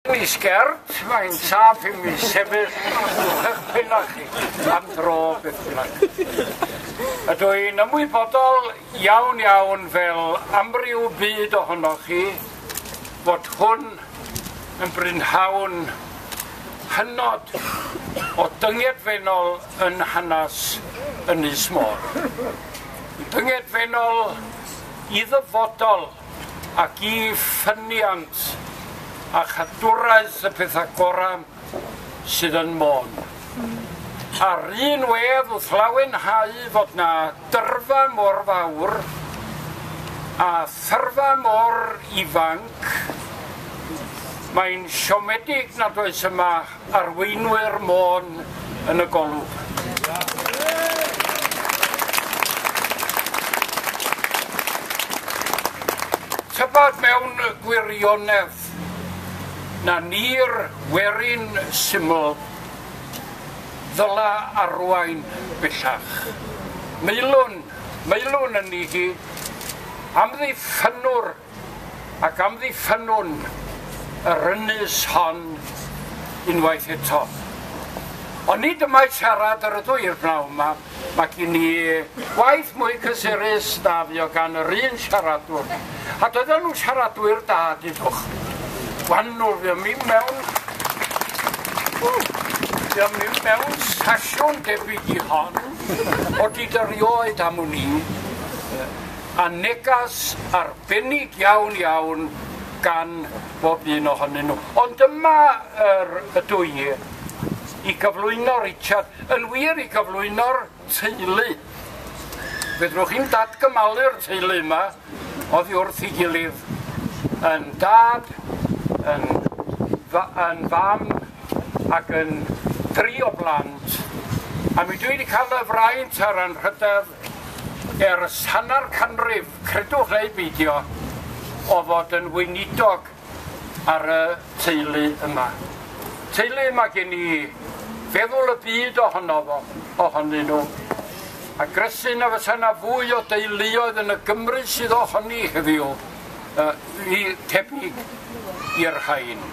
Mwy sgert, mae'n saff i mi sefyll wrthych penach chi am dro beth bynnag. Ydw i'n ymwybodol iawn iawn fel amryw byd ohonoch chi fod hwn yn brynhawn hynod o dyngedfennol yn hanes Ynys Môn. Dyngedfennol i ddyfodol ac i ffyniant a chadwraeth y pethau gorau sydd yn Môn. Ar un wedd wrth lawenhau fod na dyrfa mor fawr a thyrfa mor ifanc, mae'n siomedig nad oes yma Arweinwyr Môn yn y golwg. Tybed mewn gwirionedd na ni'r werin syml ddyla arwain bellach. Meilwn, meilwn yn ni hi, amddiffynwr ac amddiffynnwn yr ynys hon unwaith eto. Ond nid y mae siarad yr ydw i'r bnawn yma, mae gen i waith mwy cysurus na fu o gan yr un siaradwr. A doedden nhw'n siaradwyr da, dydwch. Gwannwr, fi am mi mewn... Fi am mi mewn sasiwn debyg i hon, o di dyrioed am wn i. a negas arbennig iawn iawn gan bob un ohonyn nhw. Ond dyma yr ydw i i gyflwyno Richard, yn wir i gyflwyno'r teulu. Fedrwch chi'n datgymalu'r teulu yma oddi wrth ei gilydd yn dad, yn, yn fam ac yn dri o blant. A mi dwi wedi cael y fraint a'r anrhydedd Ers hanner canrif, credwch neu beidio, o fod yn weinidog ar y teulu yma. Teulu mae gen i feddwl y byd ohono fo, ohonyn nhw. A gresu na fysa na fwy o deuluoedd yn y Gymru sydd ohoni heddiw, uh, i tebyg i'r rhain.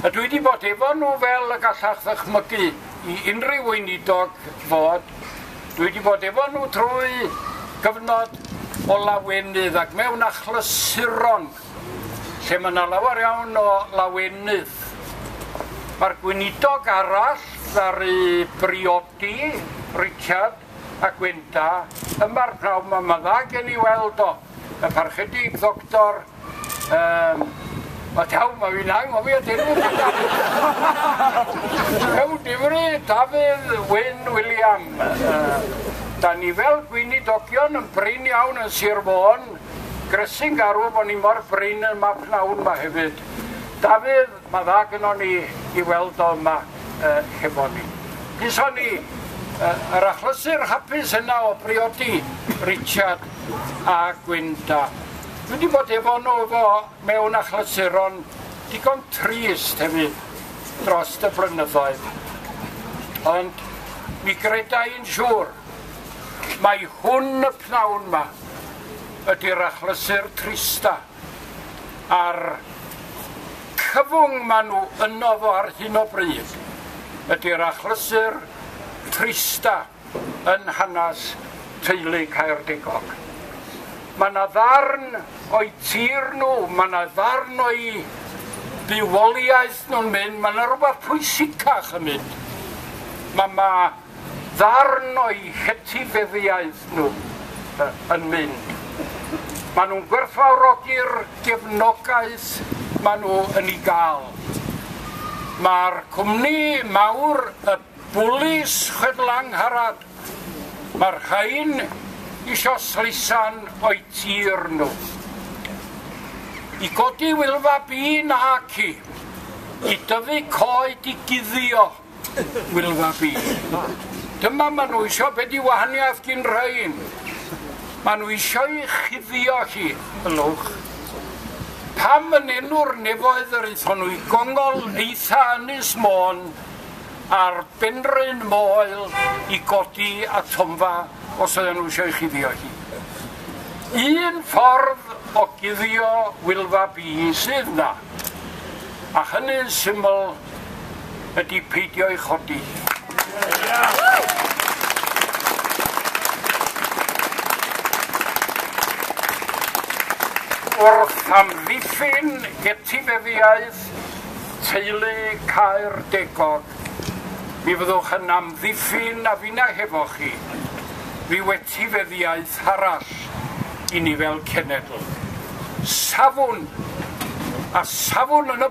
A dwi wedi bod efo nhw fel y gallach ddychmygu i unrhyw weinidog fod Dwi wedi bod efo nhw trwy gyfnod o lawenydd ac mewn achlysuron lle mae yna lawer iawn o lawenydd. Mae'r gweinidog arall ddaru briodi Richard a Gwenda yma'r pnawn yma. Mae dda gen i weld o. Y Parchedig Ddoctor yym o taw ma' fi'n anghofio dy enw di nawr! Ew difri Dafydd Wyn Wiliam yy da ni fel gweinidogion yn brin iawn yn Sir Fôn, grysu'n garw bo ni mor brin yn ma pnawn ma hefyd. Dafydd, Mae dda gynnon ni i weld o yma hefo ni. Gison ni yr achlysur hapus yna o briodi Richard a Gwynda. Dwi wedi bod efo nhw efo mewn achlysuron digon trist hefyd dros y blynyddoedd. Ond mi greda i'n siŵr mai hwn y pnawn ma ydy'r achlysur trista a'r cyfwng maen nhw yno fo ar hyn o bryd ydy'r achlysur trista yn hanes teulu Caerdigog. Mae yna ddarn o'i tir nhw, mae yna ddarn o'i bywoliaeth nhw'n mynd, mae yna rhywbeth pwysicach yn mynd. Mae yma ddarn o'u hetifeddiaeth nhw yn mynd. Maen nhw'n gwerthfawrogi'r gefnogaeth maen nhw yn ei gael. Mae'r cwmni mawr, y bwlis chwedlangharad, mae'r rhain isio sleisan o'i tir nhw. I godi wylfa bîn a ci, i dyfu coed i guddio, Wylfa fi. Dyma ma nhw isio be di wahaniaeth gin rhain. Ma nhw isio i chuddio chi yn lwch. Pam yn enw'r nefoedd yr eithon nhw i gongol eitha ynys môn a'r benryn moel i godi a tomfa os oedden nhw eisiau chuddio chi. Un ffordd o guddio wylfa bi sydd na. A hynny'n syml ydy peidio ei chodi. Wrth amddiffyn etifeddiaeth teulu Caer Degog, mi fyddwch yn amddiffyn a finna hefo chi rhyw etifeddiaeth arall i ni fel cenedl. Safwn a safwn yn y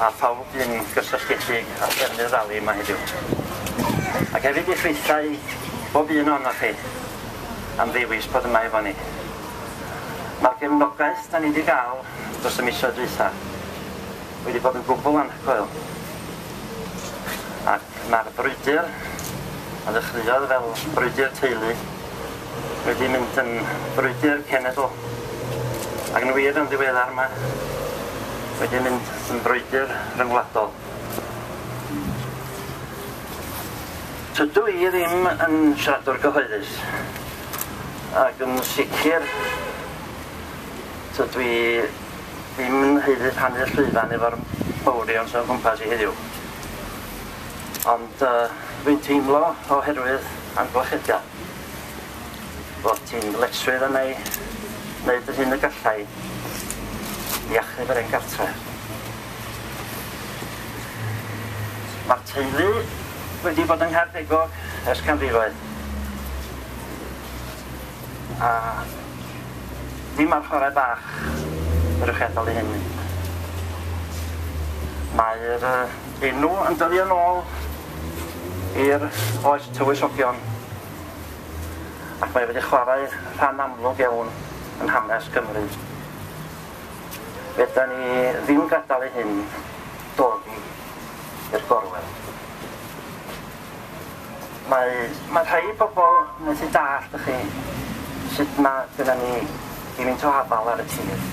a phawb fu'n gysylltiedig â threfnu'r rali yma heddiw, ac hefyd i chreithau bob un ohonoch chi am ddewis bod yma efo ni. Mae'r gefnogaeth da ni wedi gael dros y misoedd dwytha wedi bod yn gwbl anhygoel, ac mae'r brwydr a ddechreuodd fel brwydr teulu wedi mynd yn frwydr cenedl, ac yn wir yn ddiweddar mae wedi mynd yn frwydr rhyngwladol. Tydw i ddim yn siaradwr gyhoeddus, ac yn sicr tydw i ddim yn haeddu rhannu'r llwyfan efo'r mawrion sy'n o gwmpas i heddiw. Ond dwi'n teimlo oherwydd amgylchidion fod ti'n ddyletswydd arna i wneud yr hyn y galla i i achub yr hen gartre. Mae'r teulu wedi bod yng Nghaerpegog ers canrifoedd. A ddim ar chwarae bach yr ewch chi adal i hyn mynd. Mae'r uh, enw yn dyddio yn ôl i'r oes tywysogion ac mae wedi chwarae rhan amlwg iawn yn hanes Cymru. Feda ni ddim gadael i hyn dodi i'r gorwel. Mae mae rhei pobl methu dallt y'chi sut ma' gynna ni gymint o afal ar y tir.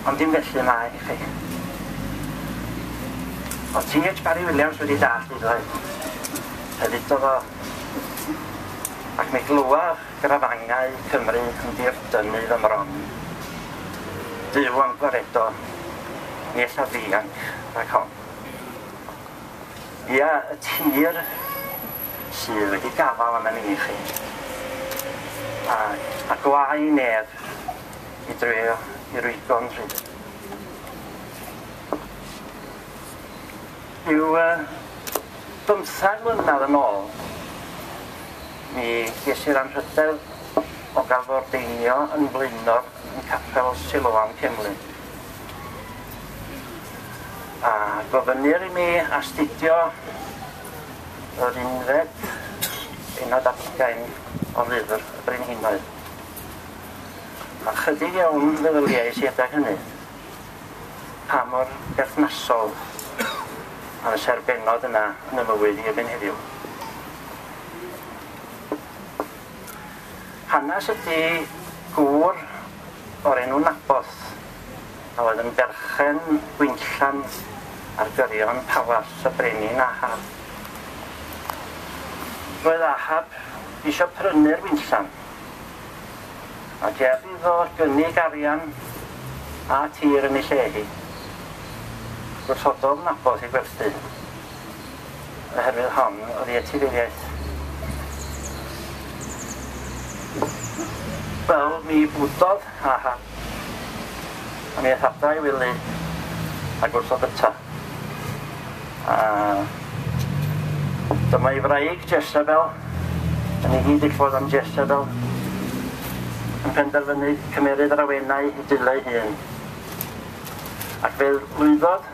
Ond dim felly mae chi. O'dd Ti Heitch Parry Williams wedi dallt hyd oed. Fe ddudodd o Ac mi glywoch grafangau Cymru yn dirdynnu fy mron. Duw am gwaredo ni ella ddianc rhag hon. Ia, y tir sydd wedi gafal arna ni i chi. A, a gwau i neb i dreio i rwygon rhydd. Rhyw uh, bymthag mlynedd yn ôl, mi ges i'r anrhydedd o gael fy ordeinio yn flaenor yn capel Siloam Cemlyn. A gofynnir i mi astudio yr unfed bennod ar hugain o lyfr y Brenhinoedd. A chydig iawn feddyliais i adag hynny pa mor berthnasol a fysa'r bennod yna yn y mywyd i erbyn heddiw. Hanes ydy gŵr o'r enw Nabos, a oedd yn berchen gwinllant ar gyrion Palas y Brenin Ahab. Roedd Ahab eisiau prynu'r winllant, a ger iddo gynnig arian a tir yn ei lle hi. Gwrthododd Nabos ei gwerthu. oherwydd hon oddi etifeddiaeth. Wel, mi bwdodd, ha ha. A mi ethada i wely a gwrthod yta. A dyma i wraig Jezebel, yn ei gyd ddiffodd am Jezebel, yn penderfynu cymeryd yr awenau i dileu hun. Ac fe lwyddodd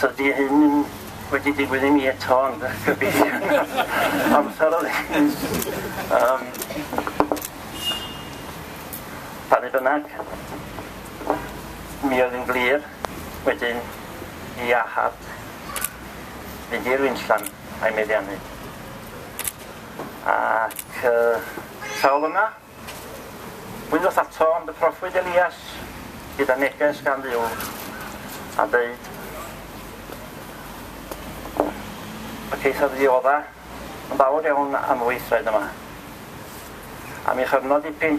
Tydi hyn ddim wedi digwydd i mi eto ond gobeithio amser oedd hyn. Um, pan ei bynnag, mi oedd yn glir wedyn i Ahab fynd i'r winllan a'i meddiannu. Ac uh, sawl yma Wyddwch ato am y proffwyd Elias gyda neges gan Dduw a ddeud y ceithoedd ddiodda yn fawr iawn am y weithred yma, am ei chyfnod dipyn,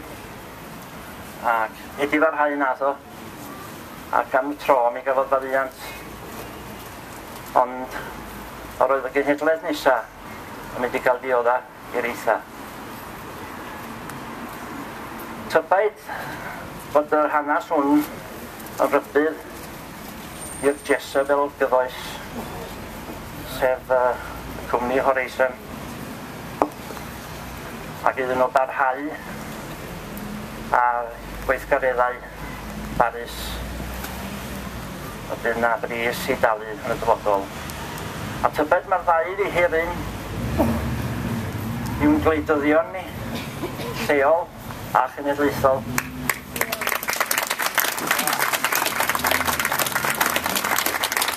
ac wedi farhau nath o, ac am y tro mi gafodd faddiant, ond yr oedd y genhedlaeth nesa yn mynd i gael diodda. i'r eithaf. Tybed fod yr hanes hwn yn rybudd i'r Jezebel gyfoes, sef y cwmni Horizon, ac iddyn nhw barhau â gweithgareddau barus y bydd 'na bris i dalu yn y dyfodol. A tybed mae'r ddau wedi hir un i'n gwleidyddion ni, lleol a chenedlaethol.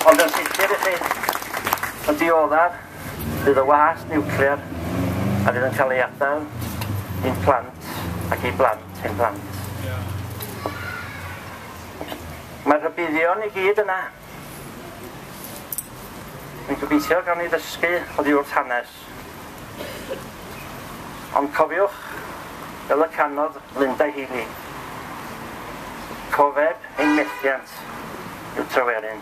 Ond yn sicr i chi, y dioddef bydd y wahast niwclear a fydd yn cael ei adael i'n plant ac i blant. Hen blant. Mae rhybuddion i gyd yna. Dwi'n gobeithio gawn ni ddysgu oddi wrth hanes. Ond cofiwch, fel y canodd Linda Healy, cofeb ein methiant yw Tryweryn.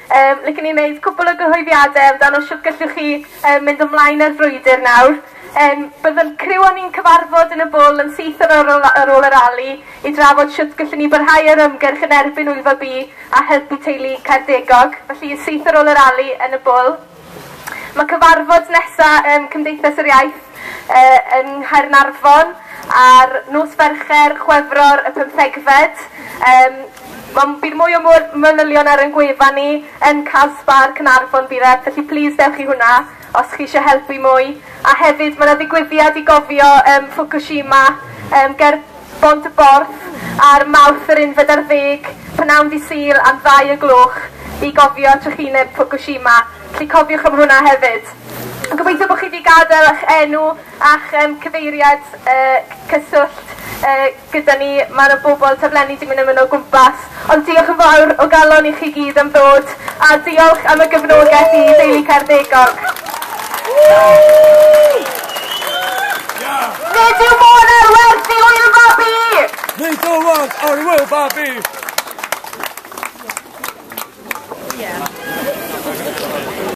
Yym, licen i wneud cwpl o gyhoeddiadau amdano shwt gellwch chi yym mynd ymlaen â'r frwydr nawr. Yym, bydd y criw a ni'n cyfarfod yn y bwl yn syth ar ôl y ar ôl y rali i drafod shwt gellwn ni barhau â'r ymgyrch yn erbyn Wyddfa B a helpu teulu Caerdegog. Felly, syth ar ôl y rali yn y bwl. Mae cyfarfod nesa ym Cymdeithas yr Iaith yng Nghaernarfon ar nos Fercher, Chwefror y pymthegfed. Yym Wel bydd mwy o mwy manylion ar ein gwefan ni yn Casbah Caernarfon bydd e, felly plis dewch i hwnna os chi eisiau helpu mwy. A hefyd mae 'na ddigwyddiad i gofio yym Fukushima yym ger Bont-y-borth ar Mawrth yr unfed ar ddeg p'nawn Dydd Sul am ddau o gloch i gofio trychineb Fukushima, felly cofiwch am hwnna hefyd. Gobeithio bod chi wedi gadael eich enw a'ch um, cyfeiriad uh, cyswllt uh, gyda ni. Mae yna bobl taflenni 'di mynd am yno o gwmpas Ond diolch yn fawr o galon i chi gyd am ddod, a diolch am y gefnogaeth i Deulu Caerdegog. Nid yw modd ar werth i wyl babi! Nid yw modd ar wyl babi! Yeah.